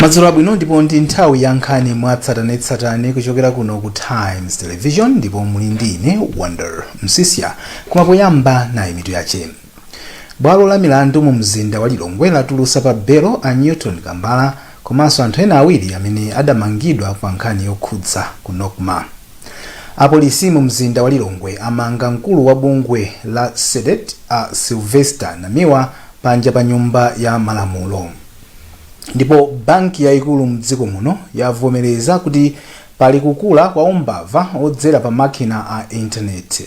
madzulo abwino ndipo ndi nthawi ya nkhani mwatsatanetsatane kuchokera kuno ku times television ndipo muli ndi ine wonder msisya koma poyamba nayi mitu yache Bwalo la milandu mu mzinda wa Lilongwe latulusa pa belo a Newton Kambala komanso anthu ena awiri amene adamangidwa pa nkhani yokhudza ku Nocma. Apolisi mu mzinda wa Lilongwe amanga mkulu wa bungwe la Cdedi a Sylvester Namiwa panja pa nyumba ya malamulo. Ndipo banki yaikulu mdziko muno yavomereza kuti pali kukula kwa umbava odzera pa makina a intaneti.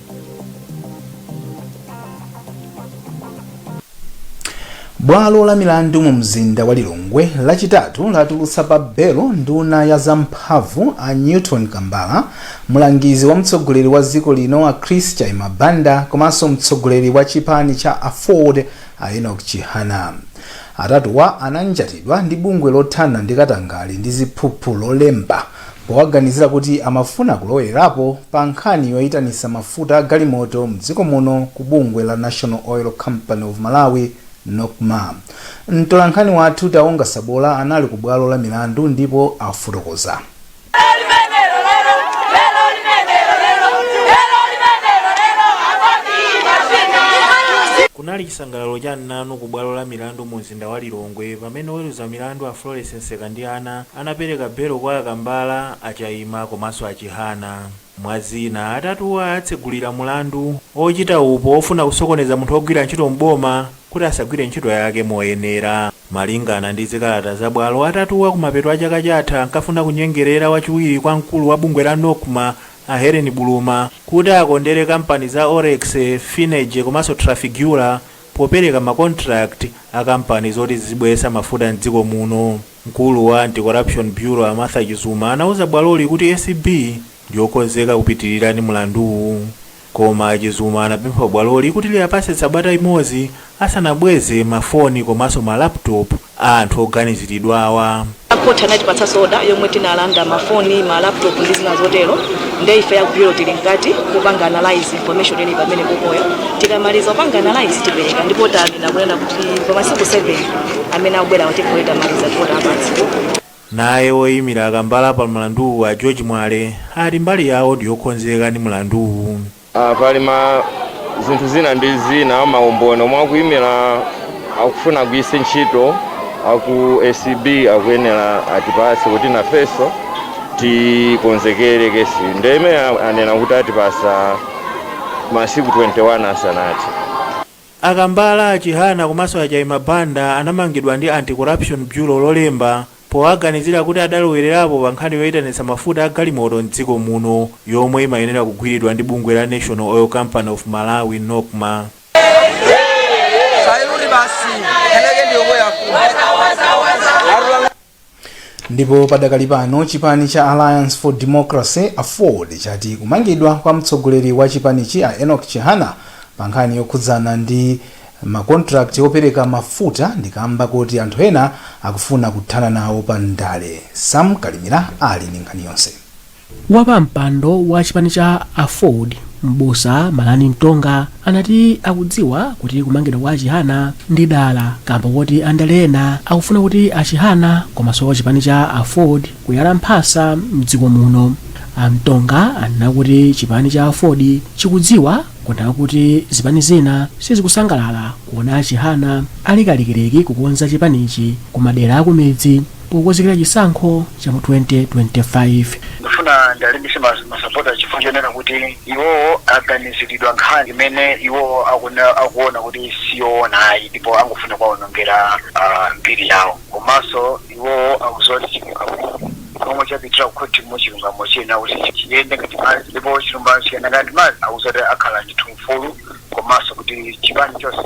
bwalo la milandu mu mzinda wa lilongwe lachitatu latulutsa pa belo nduna ya zamphamvu a newton kambala mlangizi wa mtsogoleri wa dziko lino a chris chaima banda komanso mtsogoleri wa chipani cha aford a enoch chihana atatuwa ananjatidwa ndi bungwe lothana ndi katangale ndi ziphuphu lolemba powaganizira kuti amafuna kulowerapo pa nkhani yoitanisa mafuta a galimoto mdziko muno ku bungwe la National Oil Company of Malawi, Nocma. Mtolankhani wathu Taonga Sabola anali ku bwalo la milandu ndipo afotokoza. Kunali chisangalalo cha mnanu ku bwalo la milandu mu mumzinda wa Lilongwe pamene oweruza milandu a Florence Msekandiana anapereka belo kwa a Kambala, a Chaima komanso a Chihana. Mwa zina, atatuwa atsegulira mlandu ochita upo ofuna kusokoneza munthu ogwira ntchito m'boma kuti asagwire ntchito yake moyenera. Malingana ndi zikalata za bwalo, atatuwa kumapeto a chaka chatha ankafuna kunyengerera wachiwiri kwa mkulu wa bungwe la Nocma a Hellen Buluma kuti akondere kampani za Oryx, Finergy komanso Trafigura popereka ma contract a kampani zoti zizibweretsa mafuta m'dziko muno. Mkulu wa Anti-Corruption Bureau a Martha Chizuma anauza bwaloli kuti acb ndiyokonzeka kupitilira ndi mlanduwu. Koma a Chizuma anapempha bwaloli kuti liapatse tsabata imodzi asanabweze ma foni komanso ma laptop. a anthu oganiziridwawa. A court anatipatsa search order yomwe tinalanda ma phone, ma laptop ndi zina zotero nde ife a ku bureau tili mkati mopanga analyse information ili pamene popoyo tikamaliza kupanga analyse tipereka ndipo tanena kunena kuti pa masiku 7 amene akubwerawa tikhale tamaliza ndipo tawapatsa. Naye woimira a Kambala pa mlanduwu a George Mwale ati mbali yawo ndiyokonzeka ndi mlanduwu. Ah, pali ma zinthu zina ndi zina maumboni omwe akuimira akufuna agwiritse ntchito aku acb akuyenera atipase kuti nafenso tikonzekere kesi ndiye anena kuti atipasa masiku 21 asanati A Kambala, a Chihana komanso a Chaima Banda anamangidwa ndi Anti-Corruption Bureau Lolemba powaganizira kuti adalowererapo pa nkhani yoitanitsa mafuta a galimoto m'dziko muno yomwe imayenera kugwiridwa ndi bungwe la National Oil Company of Malawi, Nocma. ndipo padakali pano chipani cha alliance for democracy aford chati kumangidwa kwa mtsogoleri wa chipanichi a enoch chihana pa nkhani yokhudzana ndi makontrakti opereka mafuta ndikamba kuti anthu ena akufuna kuthana nawo pa ndale sam kalimira ali ndi nkhani yonse Wapampando wa chipani cha aford m'busa Malani Mtonga anati akudziwa kuti kumangidwa kwa achihana ndi dala kamba koti andale ena akufuna kuti achihana komanso chipani cha aford kuyala mphasa mdziko muno. A Mtonga anena kuti chipani cha aford chikudziwa kunena kuti zipani zina sizikusangalala kuona achihana ali kalikiliki kukonza chipanichi ku madera akumidzi. pokonzekera chisankho cha mu 2025. Ndifuna ndalimbise ma ma supporters chifukwa chonena kuti iwowo aganizilidwa nkhani imene iwowo akuna akuona kuti siyoona ayi ndipo angofuna kuwaonongera ah, mbiri yawo komanso iwowo akuziwa kuti chilungamo chomwe chapitira kukhoti mu chilungamo chiyenera kuti chiyende ngati madzi ndipo chilungamo chiyenda ngati madzi akuziwa kuti akhala ndithu mfulu komanso kuti chipani chonse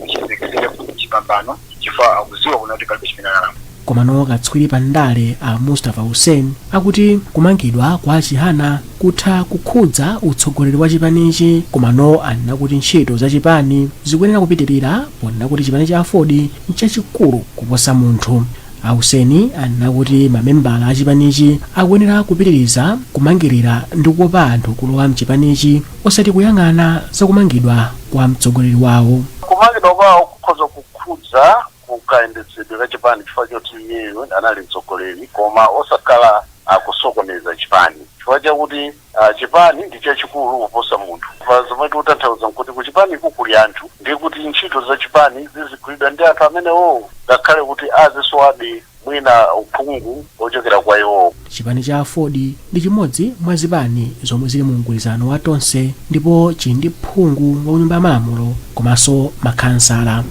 chiyembekezere chipambano chifukwa akudziwa kuna kuti palibe chimene analakwa komano katswiri pa ndale a mustafa hussein akuti kumangidwa kwa achihana kutha kukhudza utsogoleri wa chipanichi komano anena kuti ntchito za chipani zikuyenera kupitirira ponena kuti chipani cha aford nchachikulu kuposa munthu a hussein anena kuti mamembala a chipanichi akuyenera kupitiriza kumangirira ndi kukopa anthu kulowa mchipanichi osati kuyang'ana za kumangidwa kwa mtsogoleri wawo. Kumangidwa kwawo kukhoza kukhudza ku kayendetsedwe ka chipani chifukwa choti iyeyo anali mtsogoleri koma osakhala kusokoneza chipani chifukwa chakuti chipani ndi chachikulu kuposa munthu. Apa zomwe tikutanthauza nkuti ku chipaniku kuli anthu ndi kuti ntchito za chipani zizigwiridwa ndi anthu amenewowo ngakhale kuti azisowabe. mwina uphungu ochokera kwa iwowo. Chipani cha Aford ndi chimodzi mwa zipani zomwe zili mu mgwirizano wa Tonse ndipo chili ndi phungu wa kunyumba ya malamulo komanso makhansala.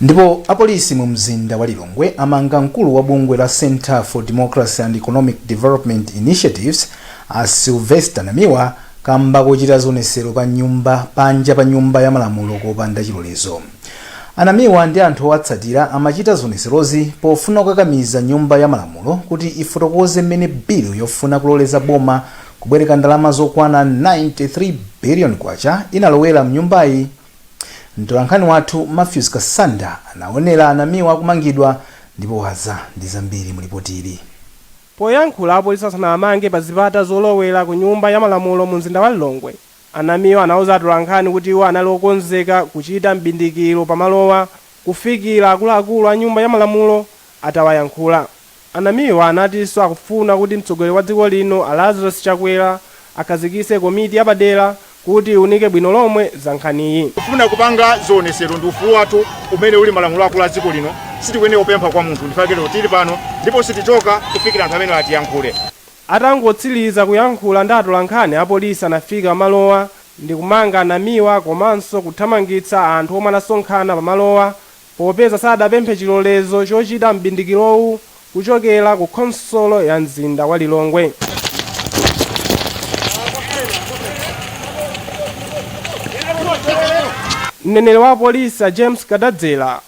Ndipo apolisi mu mzinda wa Lilongwe amanga mkulu wa bungwe la Centre for Democracy and Economic Development Initiatives a Sylvester Namiwa kamba kochita zionesero pa nyumba panja pa nyumba ya malamulo kopanda chilolezo. A Namiwa ndi anthu owatsatira amachita zionetserozi pofuna kukakamiza Nyumba ya Malamulo kuti ifotokoze mmene bilu yofuna kuloleza boma kubwereka ndalama zokwana K93 biliyoni inalowera m'nyumbayi. Mtolankhani wathu Mathews Kasanda anaonera a Namiwa akumangidwa ndipo wadza ndi zambiri mu lipoti ili. Poyankhula apolisi asanawamange pa zipata zolowera ku Nyumba ya Malamulo mu mzinda wa Lilongwe, A Namiwa anauza atolankhani kuti iwo anali okonzeka kuchita m'bindikilo pa malowa kufikila akuluakulu a nyumba ya malamulo atawayankhula. A Namiwa anatinso akufuna kuti mtsogoleri wa dziko lino a Lazarus Chakwera akhazikise komiti yapadela kuti iwunike bwino lomwe za nkhaniyi. Kufuna kupanga zioneselo ndi ufulu wathu umene uli malamulo akulu a dziko lino, sitikuyenela kupempha kwa munthu ndifake lero tili pano ndipo sitichoka kufikila anthu amenewa atiyankhule. Atangotsiliza kuyankhula ndi atolankhani, apolisi anafika pamalowa ndikumanga a Namiwa komanso kuthamangitsa anthu omwe anasonkhana pamalowa popeza sadapemphe chilolezo chochita m'bindikilowu kuchokela ku khonsolo ya mzinda wa Lilongwe. Mneneri wa apolisi a James Kadadzera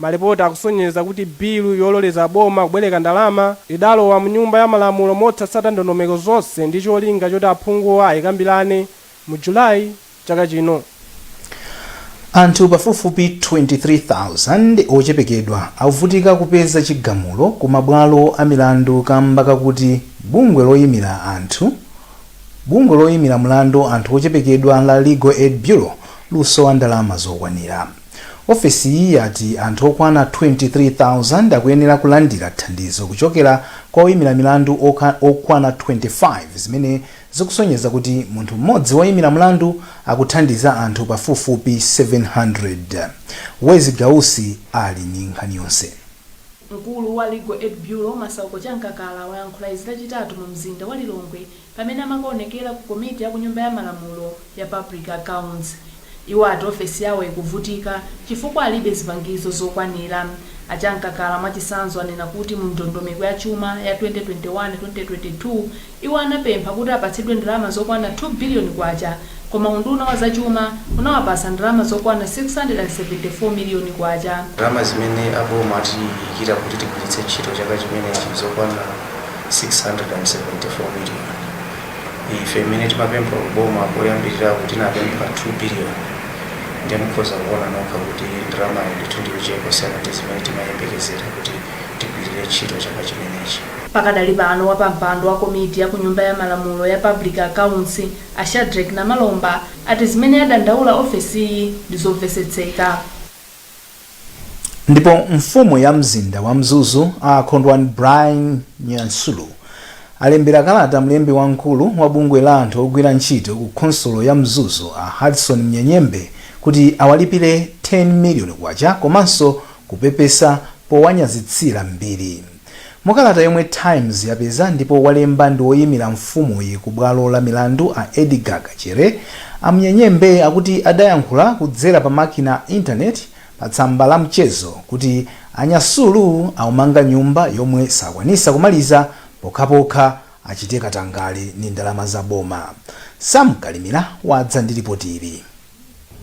Malipoti akusonyeza kuti bilu yololeza boma kubwereka ndalama idalowa mu Nyumba ya Malamulo mosatsata ndondomeko zonse ndi cholinga choti aphunguwa ayikambirane mu July chaka chino. Anthu pafupifupi 23,000 ochepekedwa akuvutika kupeza chigamulo ku mabwalo a milandu kamba kakuti bungwe loyimira mlandu anthu ochepekedwa la Legal Aid Bureau lusowa ndalama zokwanira. Ofesiyi yati anthu okwana 23,000 akuyenera kulandira thandizo kuchokera kwa oyimira milandu okwana 25 zimene zikusonyeza kuti munthu mmodzi woyimira mlandu akuthandiza anthu pafupifupi 700. Wezi Gausi ali ndi nkhani yonse. Mkulu wa Legal Aid Bureau, Masauko Chamkakala, wayankhula izi Lachitatu mu mzinda wa Lilongwe Pamene amakaonekera ku komiti ya ku nyumba ya malamulo ya Public Accounts, iwo ati ofesi yawo ikuvutika chifukwa alibe zipangizo zokwanira. A Chamkakala mwachisanzo anena kuti mu ndondomeko ya chuma ya 2021/2022 iwo anapempha kuti apatsidwe ndalama zokwana K2 biliyoni koma unduna wa zachuma unawapasa ndalama zokwana K674 miliyoni. Ndalama zimene a boma atiikira kuti tigwiritse ntchito chaka chimenechi zokwana K674 miliyoni. Ife mmene timapempha ku boma koyambiriraku tinapempha K2 biliyoni nde mukhoza kuona nokha kuti ndalamayo ndithu ndi yochepa kusiyana ndi zimene timayembekezera kuti tigwirire ntchito chaka chimenechi. Pakadali pano, wapampando wa komiti ya ku nyumba ya malamulo ya Public Accounts, A Shadreck Namalomba ati zimene yadandaula ofesiyi ndi zomvetsetseka. Ndipo mfumu ya mzinda wa Mzuzu a Kondwani Brian Nyasulu alembera kalata mlembi wamkulu wa bungwe la anthu ogwira ntchito ku khonsolo ya Mzuzu a Hudson Mnyenyembe kuti awalipire K10 million komanso kupepesa powanyazitsira mbiri. Mu kalata yomwe Times yapeza ndipo walemba ndi woyimira mfumuyi ku bwalo la milandu a Edgar Kachere, a Mnyenyembe akuti adayankhula kudzera pa makina a internet pa tsamba la mchezo kuti a Nyasulu aumanga nyumba yomwe sakwanisa kumaliza pokhapokha achite katangale ndi ndalama za boma. Sam Kalimira wadza ndi lipoti ili.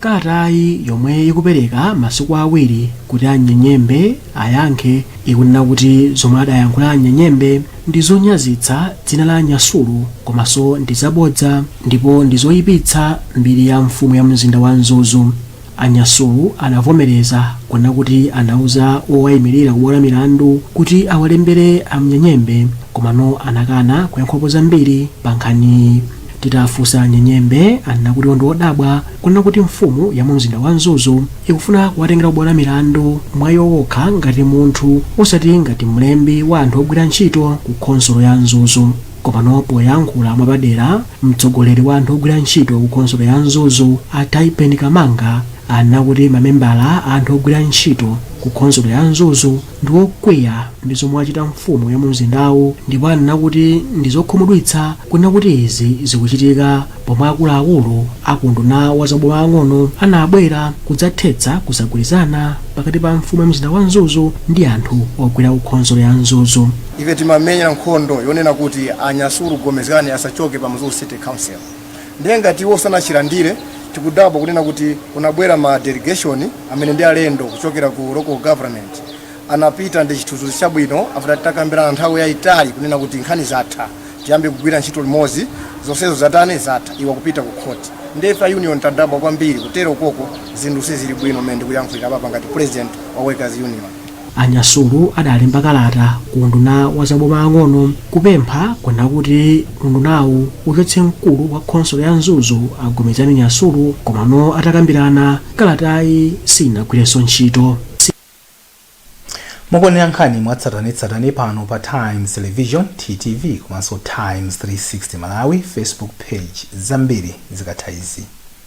Kalatayi yomwe ikupereka masiku awiri kuti a Mnyenyembe ayankhe ikunena kuti zomwe adayankhula a Mnyenyembe ndi zonyazitsa dzina la a Nyasulu komanso ndi zabodza ndipo ndi zoipitsa mbiri ya mfumu ya mzinda wa Mzuzu. A Nyasulu anavomereza kunena kuti anauza wowaimirira ku bwalo la milandu kuti awalembere a Mnyenyembe komano anakana kuyankhapo zambiri pa nkhaniyi. Titafunsa a Mnyenyembe anena kuti iwo ndi odabwa kunena kuti mfumu ya mu mzinda wa Mzuzu ikufuna kuwatengera kubwalo la milandu mwa iwo wokha ngati munthu osati ngati mlembi wa anthu ogwira ntchito ku khonsolo ya Mzuzu. Komano poyankhula mwa padera mtsogoleri wa anthu ogwira ntchito ku khonsolo ya Mzuzu a Taipen Kamanga anena kuti mamembala a anthu ogwira ntchito ku khonsolo ya Mzuzu ndi okwiya ndi zomwe wachita mfumu ya mumzindawu ndipo anena kuti ndi zokhumudwitsa kunena kuti izi zikuchitika pomwe akuluakulu akunduna wa za maboma ang'ono anabwera kudzathetsa kusagwirizana pakati pa mfumu ya mzinda wa mzuzu ndi anthu ogwira kukhonsolo ya mzuzu ife timamenyera nkhondo yonena kuti a Nyasulu Gomezgani asachoke pa mzuzu city council ndiye ngati iwo sanachilandire tikudabwa kunena kuti kunabwera ma delegation amene ndi alendo kuchokera ku local government anapita ndi chithunzithunzi chabwino after titakambirana nthawi yayitali kunena kuti nkhani zatha tiyambe kugwira ntchito limodzi zonsezo zatani zatha iwo akupita ku khoti ndiye ife a union tadabwa kwambiri kutero koko zinthu sizili bwino mmene ndikuyankhulira papa ngati president wa workers union A Nyasulu adalemba kalata ku unduna wa za boma ang'ono kupempha kunena kuti undunawu uchotse mkulu wa khonsolo ya Mzuzu a Gomezgani Nyasulu komano atakambirana, kalatayi siyinagwirenso ntchito. Mukuonera nkhani mwatsatanetsatane pano pa Times Television, TTV, komanso Times 360 Malawi Facebook Page. Zambiri zikatha izi.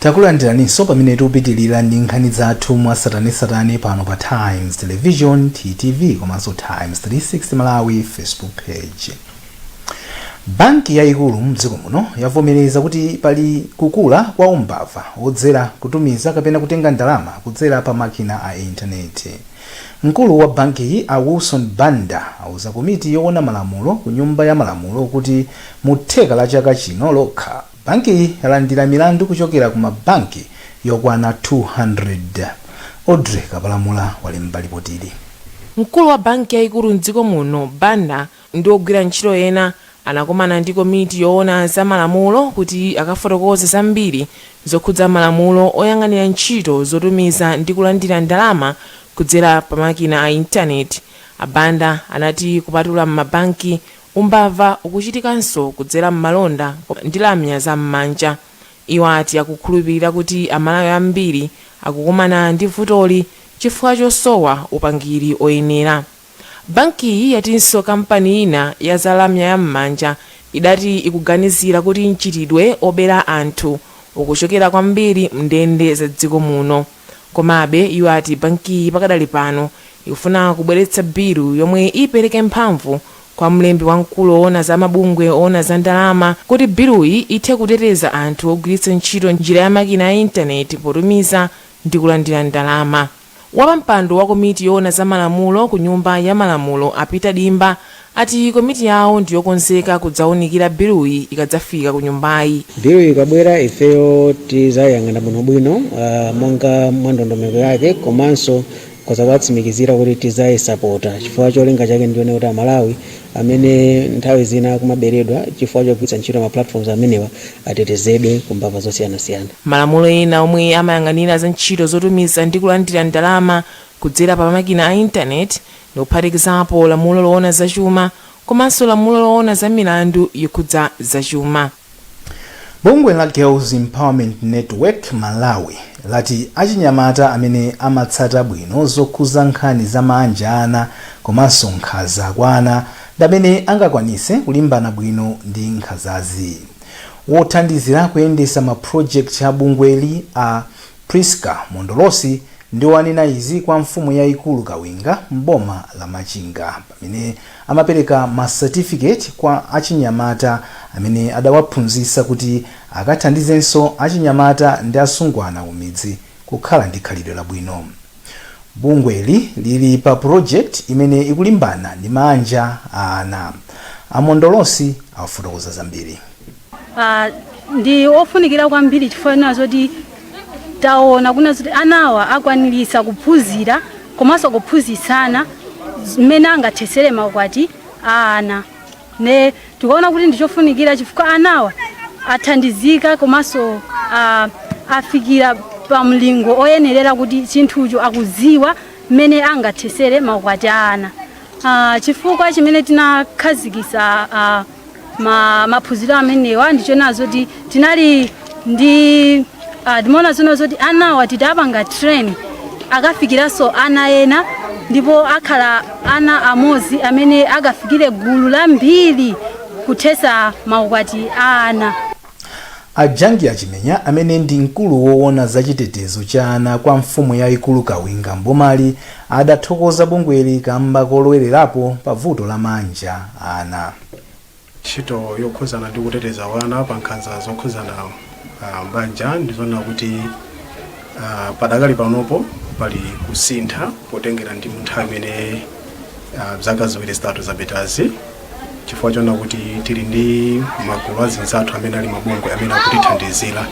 Takulandiraninso pamene tikupitilira ndi nkhani zathu mwatsatanetsatane pano pa Times Television, TTV, komanso Times 360 Malawi Facebook Page. Banki yayikulu mdziko muno yavomereza kuti pali kukula kwa umbava wodzera kutumiza kapena kutenga ndalama kudzera pa makina a intaneti. Mkulu wa bankiyi a Wilson Banda auza komiti yowona malamulo ku nyumba ya malamulo kuti mu theka la chaka chino lokha, Bankiyi yalandira milandu kuchokera ku ma banki yokwana 200. Audrey Kapalamula walemba lipotili. Mkulu wa banki yaikulu m'dziko muno, Banda, ndi ogwira ntchito ena anakomana ndi komiti yoona za malamulo kuti akafotokoze zambiri zokhudza malamulo oyang'anira ntchito zotumiza ndi kulandira ndalama kudzera pa makina a intaneti. A Banda anati kupatula m'mabanki Umbava ukuchitikanso kudzera m'malonda ndi lamya za mmanja. Iwo ati akukhulupilira kuti a Malawi ambiri akukumana ndi vutoli chifukwa chosowa upangiri oyenera. Bankiyi yatinso kampani ina ya za lamya ya mmanja idati ikuganizira kuti mchitidwe obera anthu ukuchokera kwambiri mndende za dziko muno. Komabe, iwo ati bankiyi pakadali pano ikufuna kubweretsa bilu yomwe ipereke mphamvu kwa mlembi wamkulu owona za mabungwe owona za ndalama kuti biluyi ithe kuteteza anthu ogwiritsa ntchito njira ya makina a intaneti potumiza ndi kulandira ndalama. Wapampando wa komiti yoona za malamulo ku Nyumba ya Malamulo a Peter Dimba ati komiti yawo ndi yokonzeka kudzawunikira biluyi ikadzafika ku nyumbayi. Biluyi ikabwera ifeyo tidzayiyang'ana bwinobwino monga mwa ndondomeko yake komanso tikhoza kuwatsimikizira kuti tidzayisapota chifukwa cholinga chake ndi choona kuti Amalawi amene nthawi zina akumaberedwa chifukwa chogwiritsa ntchito ma platforms amenewa atetezedwe ku mbava zosiyanasiyana. Malamulo ena omwe amayang'anira za ntchito zotumiza ndi kulandira ndalama kudzera pa makina a intaneti ndi kuphatikizapo lamulo loona za chuma komanso lamulo loona za milandu yokhudza za chuma. Bungwe la Girls Empowerment Network Malawi lati achinyamata amene amatsata bwino zokhuza nkhani za maanja a ana komanso nkhanza kwa ana ndi amene angakwanise kulimbana bwino ndi nkhanzazi. Wothandizira kuyendesa ma project a bungweli a Prisca Mondolosi ndiwo anena izi kwa mfumu yaikulu Kawinga m'boma la Machinga pamene amapereka ma certificate kwa achinyamata amene adawaphunzitsa kuti akathandizenso achinyamata ndi asungwana kumidzi kukhala ndi khalidwe labwino. Bungweli lili pa project imene ikulimbana ndi maanja a ana. A Mondolosi afotokoza zambiri. Ah, ndi ofunikira kwambiri chifukwa chonena zoti taona kunena zoti anawa akwaniritsa kuphunzira komanso kuphunzitsana mmene angathetsere maukwati a ana. Nde tikaona kuti ndi chofunikira chifukwa anawa athandizika komanso ah, afikira pa mlingo oyenerera kuti chinthucho akudziwa mmene angathesere maukwati a ana. Ah, chifukwa chimene tinakhazikisa ah, ma, maphunziro amenewa ndichonena zoti tinali ndi ah, timaona kunena zoti anawa titapanga train akafikiranso ana ena ndipo akhala ana amodzi amene akafikire gulu lambiri kuthesa maukwati a ana a jangi achimenya amene ndi mkulu woona za chitetezo cha ana kwa mfumu yayikulu kawinga m'bomali adathokoza bungweli kamba kolowererapo pa vuto la maanja a ana Ntchito yokhudzana ndi kuteteza wana pa nkhanza zokhudzana m'banja ndizonena kuti padakali panopo pali kusintha potengera ndi munthawi imene zaka ziwiri zitatu zapitazi chifukwa chonena kuti tili ndi magulu azinzathu amene ali mabungwe amene akutithandizira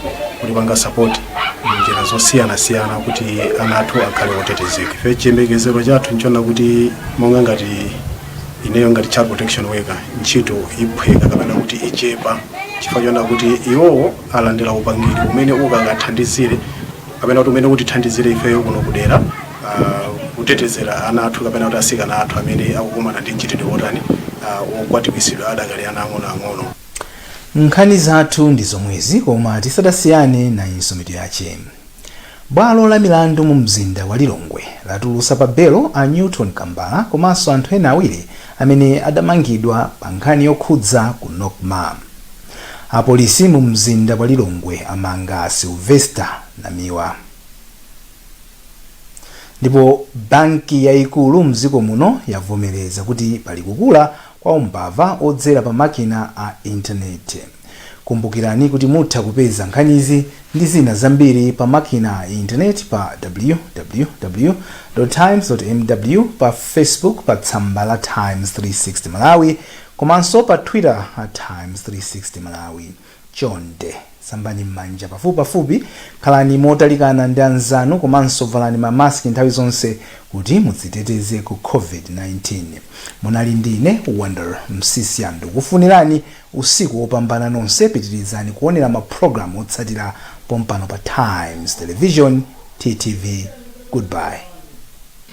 kutipanga sapoti munjira zosiyanasiyana kuti ana athu akhale otetezeka. Ife chiyembekezero chathu nchonena kuti monga ngati ineyo ngati child protection worker ntchito iphweka kapena kuti ichepa chifukwa chonena kuti iwowo alandira upangiri umene ukakathandizire kapena kuti umene utithandizire ifeyo kuno kudera ah, kutetezera ana athu kapena kuti asikana athu amene akukumana ndi mchitidwe wotani ah, wokwatiwisidwa adakali ana ang'onoang'ono nkhani zathu ndi zomwezi koma tisadasiyane nayinso, mitu yache Bwalo la milandu mu mzinda wa Lilongwe latulusa pa belo a Newton Kambala komanso anthu ena awiri amene adamangidwa pa nkhani yokhudza ku Nocma. Apolisi mu mzinda wa Lilongwe amanga a Sylvester Namiwa. Ndipo banki yaikulu mdziko muno yavomereza kuti pali kukula kwa umbava odzera pa makina a internet. Kumbukirani kuti mutha kupeza nkhanizi ndi zina zambiri pa makina a internet pa www. Times. Mw pa Facebook pa tsamba la Times 360 Malawi komanso pa Twitter at Times 360 Malawi. Chonde, sambani m'manja pafupipafupi, khalani motalikana ndi anzanu komanso valani ma mask nthawi zonse kuti mudziteteze ku COVID-19. Munali ndi ine Wonder Msiska ndikukufunirani usiku wopambana nonse pitirizani kuonera ma program otsatira pompano pa Times Television, TTV, Goodbye.